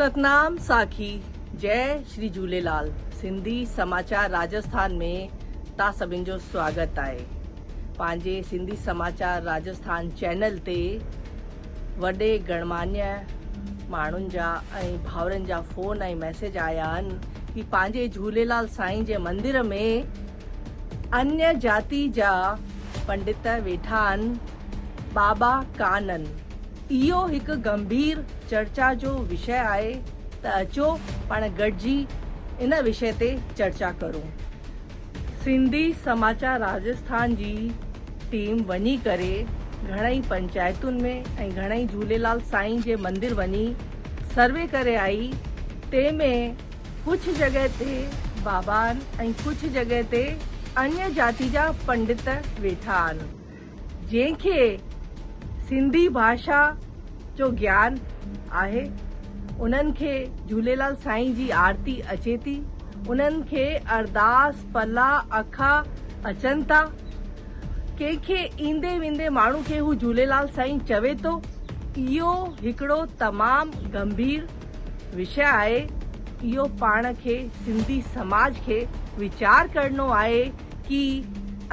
ستنام ساکي جئي شري جهوليلال سنڌي سماچار راجسٿان ۾ تان سڀن جو سواگت آهي پنهنجي سنڌي سماچار راجسٿان چينل تي وڏي گڻماني ماڻهن جا ۽ ڀاورن جا فون ۽ ميسج آيا آهن ڪي پنهنجي جهوليلال سائين جي مندر ۾ انيء جاتي جا پنڊت ويٺا ان، ٻاٻا ڪانه ان. اهو هڪ گنڀير چرچا جو وشي آهي ته اچو پاڻ گڏجي ان وشي تي چرچا ڪرون. سنڌي سماچار راجسٿان جي ٽيم وڃي ڪري گهڻئي پنچائتن ۾ ۽ گهڻئي جهوليلال سائين جي مندر وڃي سروي ڪري آئي تنهن ۾ ڪجهه جڳهه تي بابا آهن ۽ ڪجهه جڳهه تي اڃ جاتي جا پنڊت ويٺا آهن جنهن کي سنڌي ڀاشا جو گيان آهي انهن کي جهوليلال سائين جي آرتي اچي ٿي انهن کي ارداس پلا اکا اچن ٿا ڪنهن کي ايندي ويندي ماڻهو کي هو جهوليلال سائين چوي ٿو اهو هڪڙو تمام گنڀير وشيه آهي اهو پاڻ کي سنڌي سماج کي ويچار ڪرڻو آهي ڪي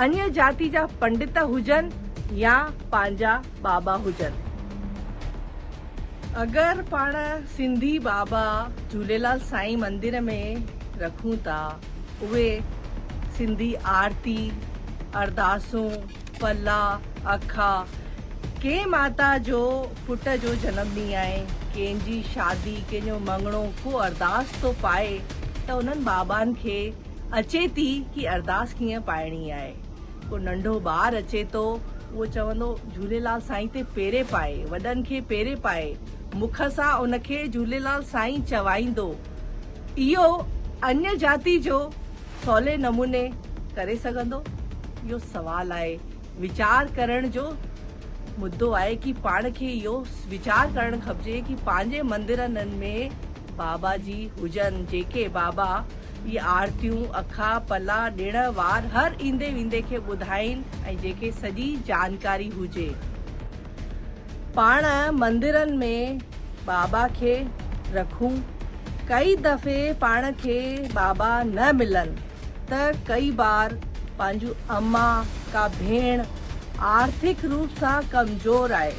اڃ جاتي جا پنڊت هجن يا پنهنجا بابا هجن اگر پاڻ سنڌي بابا جهوليلال سائين مندر ۾ رکون ٿا اهي سنڌي آرتي ارداسون پلا اکا ڪنهن ماتا جو پٽ جو جنم ڏينهن آهي، ڪنهن جي شادي، ڪنهن جو مڱڻو، ڪو ارداس ٿو پائي ته انهن بابان کي اچي ٿي ڪي ارداس ڪيئن پائڻي آهي. ڪو ننڍو ٻار اچي ٿو اهو چوندو جهوليلال سائين تي پيري پائي، وڏن کي پيري پائي، مک سان ان کي جهوليلال سائين چوائيندو. اهو اڃ جاتي جو سولي نموني ڪري سگهندو؟ اهو سوال آهي. ويچار ڪرڻ جو مدو آهي ڪي پاڻ کي اهو ويچار ڪرڻ کپجي ڪي پنهنجي مندرن ۾ بابا جي هجن جيڪي بابا جي آرتيون، اکا پلا ڏڻ وار هر ايندي ويندي کي ٻڌائين ۽ جيڪي سڄي جانڪاري هجي پاڻ مندرن ۾ بابا کي رکون ڪئي دفعي پاڻ کي بابا نه ملن. ته ڪئي بار پنهنجون اما ڪا ڀيڻ آرٿڪ روپ سان ڪمزور آهي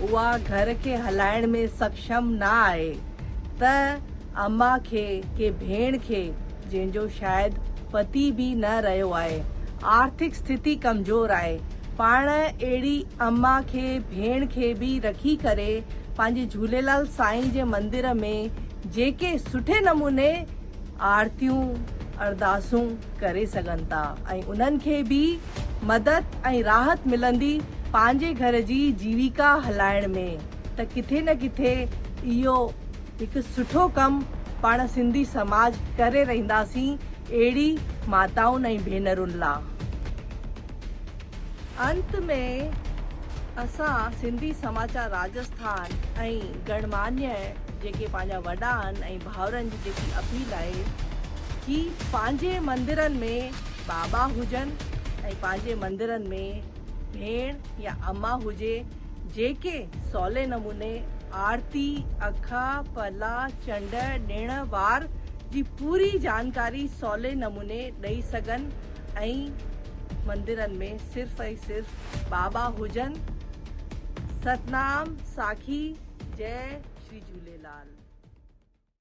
اها گهر کي هلائڻ ۾ سڪشم نه آهي ته اما کي ڪي ڀيڻ کي جنهن جو شايد پتي به نه رهيو آهي آرٿڪ ستيتي ڪمزور آهي پاڻ اهڙي اما کي ڀيڻ کي به رکي ڪري پنهنجي جهوليلال سائين جي مندر ۾ جيڪي سٺي نموني آرتيون، ارداسون ڪري سگهن ٿا ۽ انهن کي به مدد ۽ راحت ملندي پنهنجي گهر جي جيويڪا هلائڻ ۾ ته ڪٿي نه ڪٿي اهو هڪ سٺو ڪم پاڻ سنڌي سماج ڪري رهنداسين اهڙي ماتائن ۽ ڀينرن لا. انت ۾ اسان سنڌي سماچار راجسٿان ۽ گڻمانيء جيڪي پنهنجا وڏا آهن ۽. ڀائرن جي جيڪي اپيل آهي ڪي پنهنجي مندرن ۾ بابا هجن ۽ پنهنجي مندرن ۾ ڀيڻ يا اما هجي جيڪي سولي نموني آرتي، اکا، پلا، چنڊ، ڏڻ وار جي پوري جانڪاري سولي نموني ڏئي سگهن ۽ مندرن ۾ صرف ۽ صرف بابا هجن ستنام ساکي جئي شري جهوليلال.